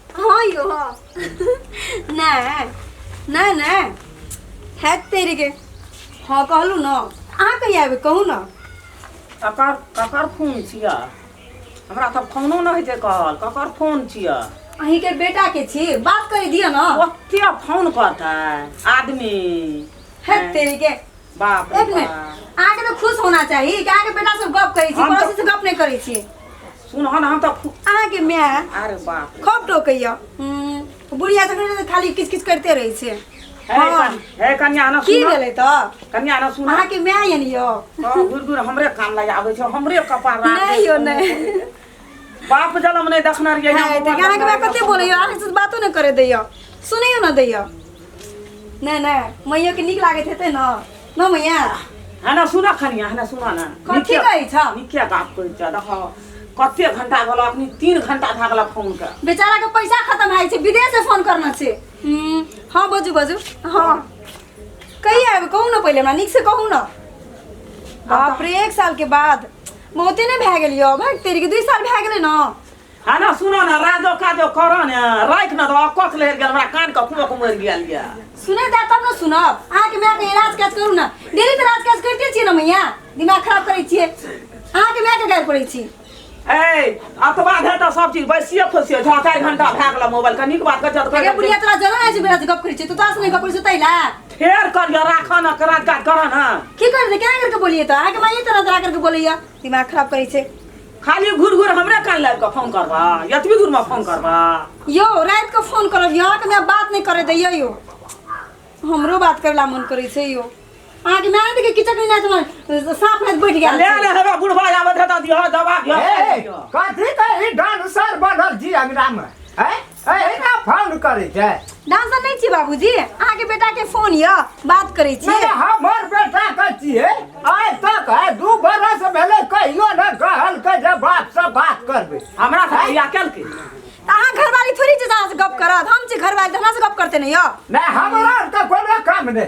हाँ यो हाँ नहीं नहीं नहीं है तेरे के हाँ कहलू ना अहाँ कहीं आबे कहू ना ककर ककर फोन छिया हमरा सब फोनो न होइ छै कहल ककर फोन छिया अहीं के बेटा के छी बात कर दिया ना ओते फोन करतै आदमी है तेरे के बाप रे एक मिनट बाप। अहाँके तऽ खुश होना चाही कि अहाँके बेटा सब गप करै छी हम तऽ- पड़ोसी से गप नहि करै छी सुन हन हम तऽ फु- अहाँके माय अरे बाप रे। खूब टोकैया हम्म, बुढ़िया सब ने तऽ खाली किच किच करते रहै छै हे हँ। कन- हे कन्या ना की सुन भेलै तऽ कन्या ना सुन अहाँके माय यनि यौ घुर घुर हमरे कान लग आबै छै हमरे कपार राखै नहि यौ छै। नहि बाप जलम नहीं देखना रहिए है त गाना के बात कते बोलैयो आगे से बातो न करे दैयो सुनैयो न दैयो नै नै मैया के नीक लागैत हेतै न न मैया है ना सुना खनिया है ना सुना ना कथी कहै छ निकिया बाप कहै छ देखो कते घंटा गेल अखनी तीन घंटा भए गेल फोन के बेचारा के पैसा खत्म भए छै विदेश से फोन करना छै हम्म, हाँ बजू बजू हाँ कहिया आबे कहू न पहिले हमरा नीक से कहू न बाप रे एक साल के बाद बहुते ने भए गेल यौ भाग तेरी के दुई साल भए गेलै ने है ना सुनो ना राजो काजो करो ने राख ना तो अकस ले गेल हमरा कान के कुमो कुमो गेल ये सुने जा तब ना सुनब अहाँ के माय के इलाज काज करू ना डेली तो इलाज काज करते छियै ना मैया दिमाग खराब करै छियै अहाँ के माय के गाय पड़ै छी ए अतबा धे तो सब चीज बैसिए खोसिए छओ चारि घंटा भए गेल मोबाइल के नीक बात कर जत अरे बुढ़िया तोरा जलन है जे बेरा जे गप करै छियै तू तोरा से नहि गप करै छियै तैला फेर कर यो राखा ना करा का करा ना की कर दे क्या करके बोलिए तो आगे माइए तरह तरह करके बोलिए दिमाग खराब करे छे खाली घुर घुर हमरा कान लाग के फोन करबा यतबी दूर में फोन करबा यो रात को फोन करब यहाँ के मैं बात नहीं करे दैया यो हमरो बात करला मन करे छे यो आगे मैं आने के किचक नहीं ना समझ सांप हाथ बैठ गया ले ले हमरा बुढ़वा आवे धता दियो दवा ए, दियो कथी के ई डांसर बनल जी अंगना में हैं एहिना फोन करै छै डांसर नहीं छी बाबूजी अहाँ के बेटा के फोन य बात करे छी नहीं हमर बेटा के छिए आइ तक है दू बरस भेले कहियो न कहल के जे बाप से बात करबे हमरा से बिया कल के अहाँ घरवाली थोड़ी जे से गप करत हम छी घरवाली हमरा से गप करते नहीं य नहीं हमरा त कोनो काम नहीं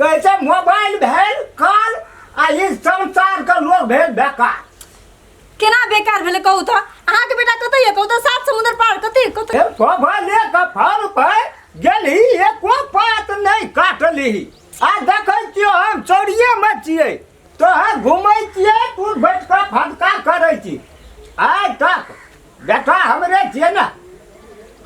कैसे मोबाइल भेल काल आ ई संसार के लोग भेल बेकार केना बेकार भेलै कहू तऽ अहाँके बेटा कतऽ यऽ कहू तऽ सात समुद्र पार कतऽ यऽ कतऽ ए बाबा ले के फर पे गेली एको बात नहीं काटली आ देखै छियो हम चोरिये में छियै तोहर घुमै छियै तू बैठ कऽ फटका करै छी आइ तक बेटा हमरे छियै ने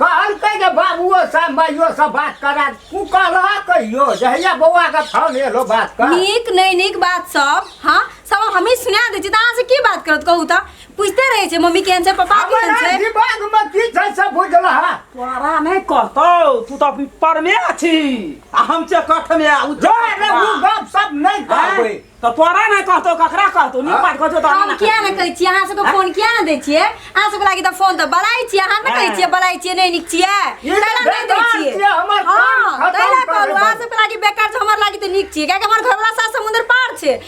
कहलकै जे बाबुओ से माइयो से बात करा तू कहला कहियो जहिया बौआ के फोन एलो बात कर नीक नहीं नीक बात सब हाँ सब हमी सुना दे छी त अहाँ से की बात करत कहू त पूछते रहे छे मम्मी केहन छै पापा केहन हमरा छै दिमाग में की छै से बुझला है तोरा नहीं कहतो तू तो अभी पर में अछि आ हम छे कठ में आ उ जो रे वो बाप सब नहीं कहबे तो तोरा नहीं कहतो ककरा कहतो नी पाट कहतो तो हम किया ने कहै छियै अहाँ सबके फोन किया ने दै छियै अहाँ सबके लागि तऽ फोन तऽ बड़ाइ छियै अहाँ ने कहै छियै बड़ाइ छियै नहि नीक छियै ई तैला नहि दै बेकार छियै छियै, हमर काम हँ खतम तैला करे कहलहुँ अहाँ बला। सबके लागि बेकार छै हमर लागि तऽ नीक छियै कियाकि हमर घरवला सात समुद्र पार छै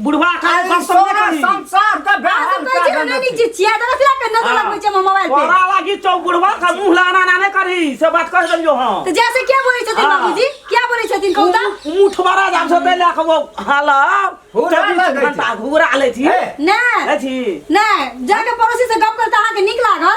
बुढ़वा का अरे बात सब तोरा नहीं करी। संसार का बेहाल तो कर कहै छै नहि जे छिया दला फिरा के नजर लगबै छै हमर मोबाइल पे तोरा लागी चौ बुढ़वा का मुंह लाना ना ने करी से बात कह देलियो हां तऽ जैसे क्या बोलै छथिन हाँ। बाबूजी क्या बोलै छथिन कहू तऽ मुठ मारा जाम से पहले के वो हाला हुरा चौबीस लगे घंटा घुरा ले थी ए, नहि अथी नहि जाके पड़ोसी से गप करता अहाँके नीक लागल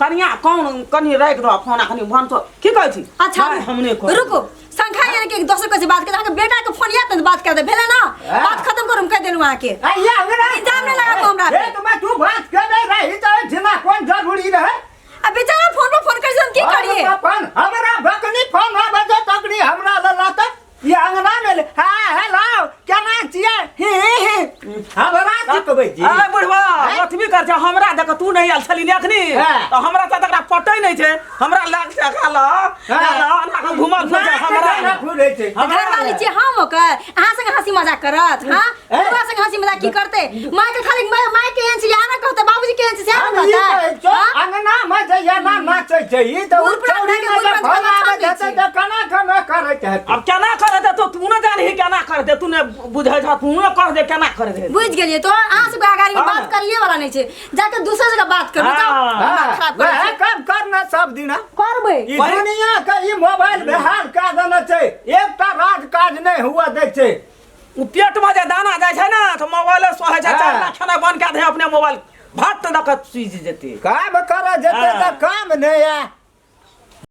कनिया कौन कनी राखि दो फोन कनी भन तो की कहै छी अच्छा नहीं, हम नहीं कहै रुको संखा यार के एक दोसर के से बात कर अहाँके बेटा के फोन याद बात कर दे भेले ना हाँ। बात खत्म करू हम कह देलू अहाँ के ए, या हमरा इल्जाम नहीं लगा को हमरा पे। ए, तुम्हें तू बात कर नहीं रही तो जिना कौन जरूरी रहे अब बेचारा फोन पर फोन कर हम की करिए अपन हमरा बकनी फोन ना बजे तकनी हमरा लला तक ई अंगना में ले- हाँ हेलो क्या नाम छियै ही ही ही हमरा की कहबै जी अरे बुढ़वा हैं? अथबी कर जा हमरा देख तू नहीं आयल छली ने अखनी हैं। तो हमरा साथ एकरा पटै नहीं छै हमरा लाग से खाल घुमल फिर जा हमरा घुरै छै हमरा वाली छियै हम ओकर अहाँ संगे हँसी मजाक करत हाँ तोरा संग हंसी मजाक की करते माय के खाली माय माय के एहन सियाह ना कहते बाबूजी के एहन सियाह हम ना ई कहते कहै छौ, हाँ? अंगना मे जइया ना नाचै छै ई तऽ गुड़ पुरान उठौड़ी खाके मे गुड़ जे पुरान भला खाके आबै छै छै। तऽ केना केना करैत हेतै अब केना करे दे तो तू ना जानी है केना करे दे तू ने बुझे जा तू ना कर दे केना करे दे बुझ गेलिए तो अहाँ सबके अगाड़ी में हाँ। बात करिए वाला नहीं छै जाके दूसरे जगह बात कर हाँ। हाँ, खराब कर वएह काम करना सब दिना करबै ई वही- दुनिया के ई मोबाइल बिहार का देने छै एकटा राज काज नहि हुआ दै छै उ पेट में जे दाना जाय छै ना तो मोबाइल सोहे छै हाँ। चार लाख खाना बन के दे अपने मोबाइल भात तक सुझ जेते काम कर जेते हाँ। त काम नहीं है